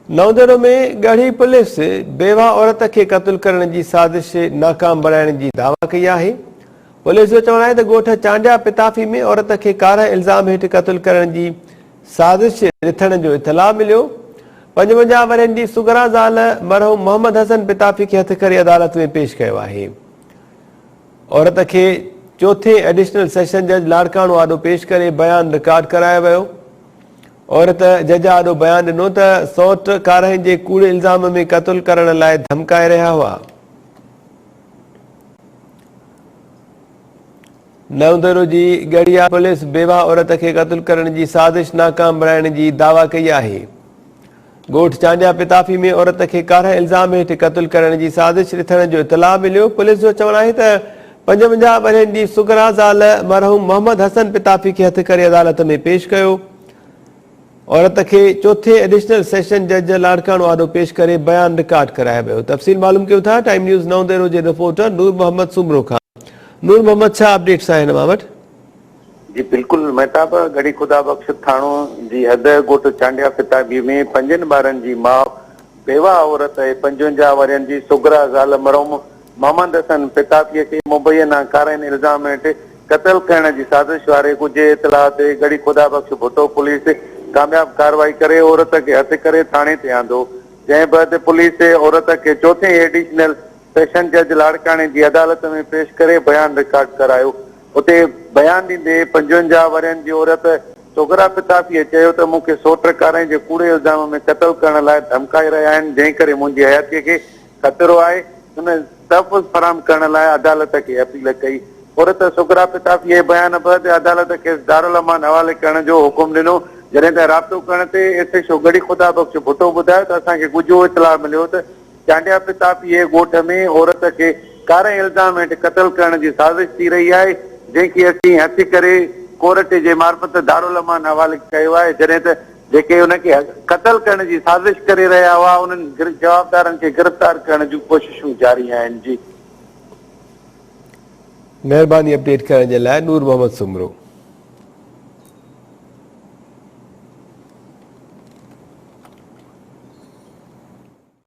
نوجهڙو ۾ Garhi police بيواهه عورت کي قتل ڪرڻ جي سازش ناڪام بڻائڻ جي دعويٰ ڪئي آهي. پوليس جو چوڻ آهي ته ڳوٺ چانڊيا پتافي ۾ عورت کي ڪارهه الزام هيٺ قتل ڪرڻ جي سازش رٿڻ جو اطلاع مليو. پنجونجاهه ورهين جي سگهرا زال مرحوم محمد حسن پتافي کي هٿ ڪري عدالت ۾ پيش ڪيو آهي. عورت کي چوٿين ايڊيشنل سيشن جج لاڙڪاڻو آڏو پيش ڪري بيان رڪارڊ ڪرايو ويو. عورت جج آڏو بيان ڏنو ته سئوٽ ڪارائين جي ڪوڙي الزام ۾ قتل ڪرڻ لاء ڌمڪائي رهيا هئا. نئوندورو جي ڳڙهيا پوليس بيواهه عورت کي قتل ڪرڻ جي سازش ناڪام بڻائڻ جي دعويٰ ڪئي آهي. ڳوٺ چانڊيا پتافي ۾ عورت کي ڪارهن الزام هيٺ قتل ڪرڻ جي سازش رٿڻ جو اطلاع مليو، پوليس جو چوڻ آهي ته پنجونجاهه ورهين جي سگرا زال مرحوم محمد حسن پتافي کي هٿ ڪري عدالت ۾ پيش ڪيو، عورت کي چوٿين ايڊيشنل سيشن جج لاڙڪاڻو آڏو پيش ڪري بيان رڪارڊ ڪرايو ويو، تفصيل معلوم ڪيون ٿا ٽائيم نيوز نئون ديرو جي رپورٽر نور محمد سومرو کان، نور محمد ڇا اپڊيٽس آهن اوهان وٽ؟ جي بلڪل مهتاب، ڳڙهي خدا بخش ٿاڻو جي حد ڳوٺ چانڊيا فتاحبي ۾ پنجن ٻارن جي ماء بيواهه عورت ۽ پنجونجاهه ورهين جي سگهرا زال مرحوم محمد حسن فتاحي کي مبينا ڪارائين الزام هيٺ قتل ڪرڻ جي سازش واري ڳجهي اطلاع تي ڳڙهي خدا بخش ڀٽو پوليس ڪامياب ڪارروائي ڪري عورت کي هٿ ڪري ٿاڻي تي آندو جنهن بعد پوليس عورت کي چوٿين ايڊيشنل سيشن جج لاڙڪاڻي جي عدالت ۾ پيش ڪري بيان رڪارڊ ڪرايو. اتي بيان ڏيندي پنجونجاهه ورهين جي عورت سوگرا فتافيء چيو ته مون کي سوٽ ڪارائين جي ڪوڙي الزام ۾ قتل ڪرڻ لاء ڌمڪائي رهيا آهن جنهن ڪري منهنجي حياتيء کي خطرو آهي هن تحفظ فراهم ڪرڻ لاء عدالت کي اپيل ڪئي عورت سوگرا فتافيء جي بيان بعد عدالت کيس دارالامان حوالي ڪرڻ جو حڪم ڏنو جڏهن ته رابطو ڪرڻ تي S H O Garhi Khuda Bakhsh Bhutto ٻڌايو ته اسان کي ڳجهو اطلاع مليو ته چانڊيا پتا پيهي ڳوٺ ۾ عورت کي ڪاري الزام هيٺ قتل ڪرڻ جي سازش ٿي رهي آهي جنهن کي اسين هٿي ڪري ڪورٽ جي معرفت دارالامان حوالي ڪيو آهي جڏهن ته جيڪي ان کي قتل ڪرڻ جي سازش ڪري رهيا هئا انهن جوابدارن کي گرفتار ڪرڻ جون ڪوششون جاري آهن جي. مهرباني اپڊيٽ ڪرڻ جي لاء نور محمد سومرو.